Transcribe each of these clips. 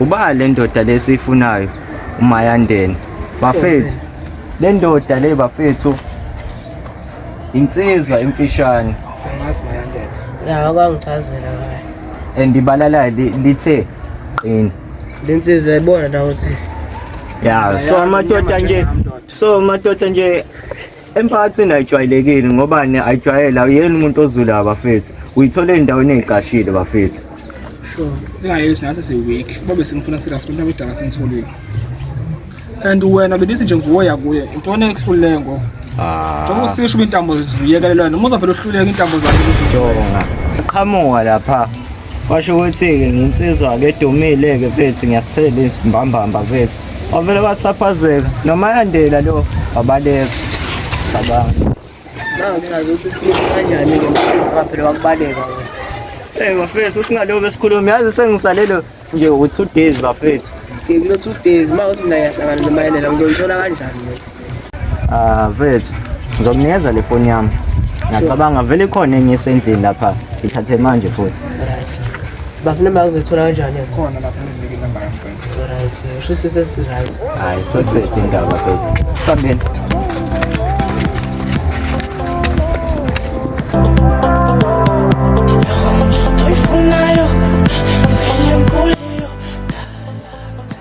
Uba le ndoda le siyifunayo uMayandeni. Bafethu le ndoda le bafethu insizwa emfishane Angazi mayandela. Ya kwangichazela ngayo. and ibalala li- lithe qini. Lensizwa yayibona nawo ukuthi Ya so amadoda nje so amadoda nje Emphakathini ayijwayelekile ngobani ayijwayele awuyena umuntu ozulayo bafethu. Uyithola endaweni ezicashile bafethu. Sure. Ingayesho ngathi siweek. Babe singifuna serious umuntu abedala sengitholile. And wena belithi nje nguwe yakuye. Intoni ekuhlulele ngo? Ah. Njengoba usisho uba intambo ziyekelelwa noma uzovele uhluleke intambo zakhe. Jonga. Qhamuka lapha. Washo ukuthi-ke nginsizwa-ke edumile-ke mfethu ngiyakuthela izimbambamba mfethu wavele wasaphazeka noma yandela lo wabaleka cabanga nangichaza ukuthi simisa kanjani-ke mphakaphela wakubaleka Hey bafethu singaloku besikhuluma yazi sengisalelo nje u2 days bafethu. Ngikulo 2 days mawuthi mina ngiyahlangana nomayelela ngizolithola kanjani. Ah, vethu ngizokunikeza le foni yami ngiyacabanga vele ikhona enye esendlini lapha ithathe manje futhi bafuna imali kuzoyithola kanjani khona lapha right sho ukuthi sesiright hayi sesedi indaba phezulu sambeni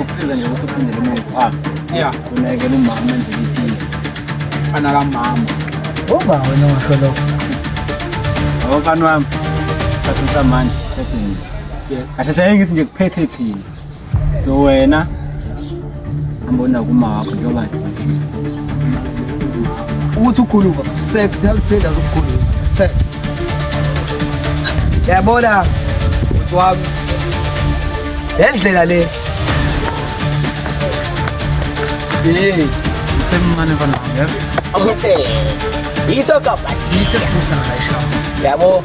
ukusiza nje ukuthi uphindele emuva phambi ya unakekela umama enzele itiye fana kamama uba wena washo lokho yabo mfana wami sikhathini samanje phethe nje yes kahle hle ngithi nje kuphethe thina so wena Ambona kuma wakho njengoba ukuthi ukhuluma sekuthatha uphinde azokukhuluma. Yabona ukuthi wami. Lendlela le. Yey, usemncane mfana. Akuthe. Yiso kapha. Yiso sibusa ngisho. Yabo.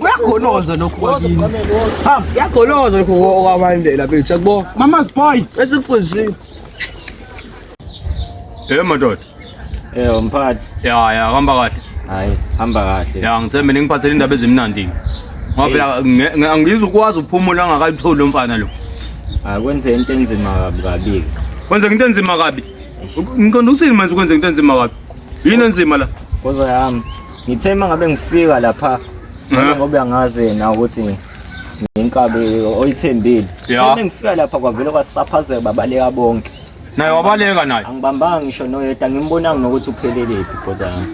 kuyagoloza lokhu kwakini hamba kuyagoloza lokhu okwabandela bethu yakubona mama's boy esikufundisile Eh madoda. Eh mphathi. Ya ya hamba kahle. Hayi hamba kahle. Ya ngithembe ningiphathele indaba ezimnandi. Ngoba angizwe ukwazi ukuphumula angakayitholi umfana lo. Akwenze into enzima kabi kabi. Kwenza into enzima kabi. Ngiqonda ukuthini manje kwenza into enzima kabi. Yini enzima la? Koza yami. ngithe uma ngabe ngifika lapha Eh. ngoba uyangazi yena ukuthi nginkabi oyithembile Ya. Ngithe ngifika lapha kwavele kwasaphazeka babaleka bonke naye wabaleka naye angibambanga ngisho noyedwa ngimbonanga nokuthi uphelelephi ibhoza yami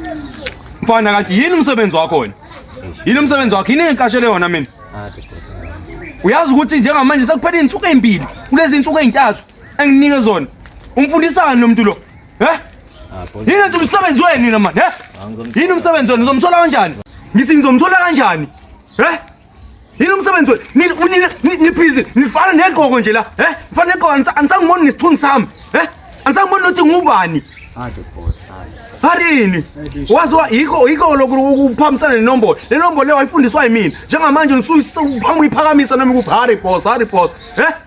mfana kanti yini umsebenzi wakho wena yini umsebenzi wakho yini engikashele yona mina Aphi ibhoza yami? uyazi ukuthi njengamanje sekuphele iy'nsuku ey'mbili kulezi nsuku ey'ntathu enginike zona umfundisani lo muntu lo Eh? Yini nje umsebenzi wenu nina manje, eh? Yini umsebenzi wenu uzomthola kanjani? Ngithi ngizomthola kanjani? Eh? Yini umsebenzi wenu? Nina unina niphizi, nifana negqoko nje la, eh? Nifana negqoko anisangiboni ngesithunzi sami, eh? Anisangiboni nothi ngubani. Aje boss. Harini. Waziwa yikho yikho lokhu ukuphambisana nenombolo. Le nombolo le wayifundiswa yimina. Njengamanje ngisuyisa uphambi uyiphakamisa noma ukuphi. Harry boss, Harry boss. Eh?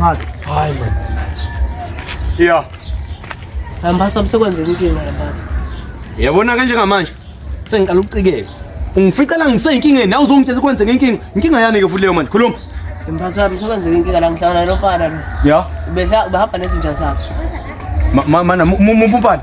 Hadi. Hayi man. Yeah. Hambasa umsekwenzeni inkinga hambasa. Yabona kanje ngamanje sengiqala ukucikeka. Ungificela ngiseyinkingeni nawe uzongitshela kwenzeka inkinga. Inkinga yani ke futhi leyo manje khuluma. Hambasa umsekwenzeni inkinga la ngihlangana nofana lo. Yeah. Ubehla ubehamba nezinja zakhe. Mana mumfana.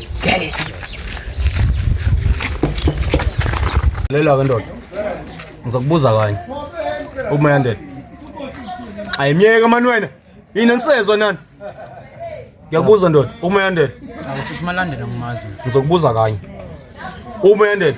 Lelo ke ndoda. Ngizokubuza kanye. Umayandela. Ayimyeke mani wena. Yini nsezwa nani? Ngiyakubuza ndoda, umayandela. Awufisa malandela ngimazi. Ngizokubuza kanye. Umayandela.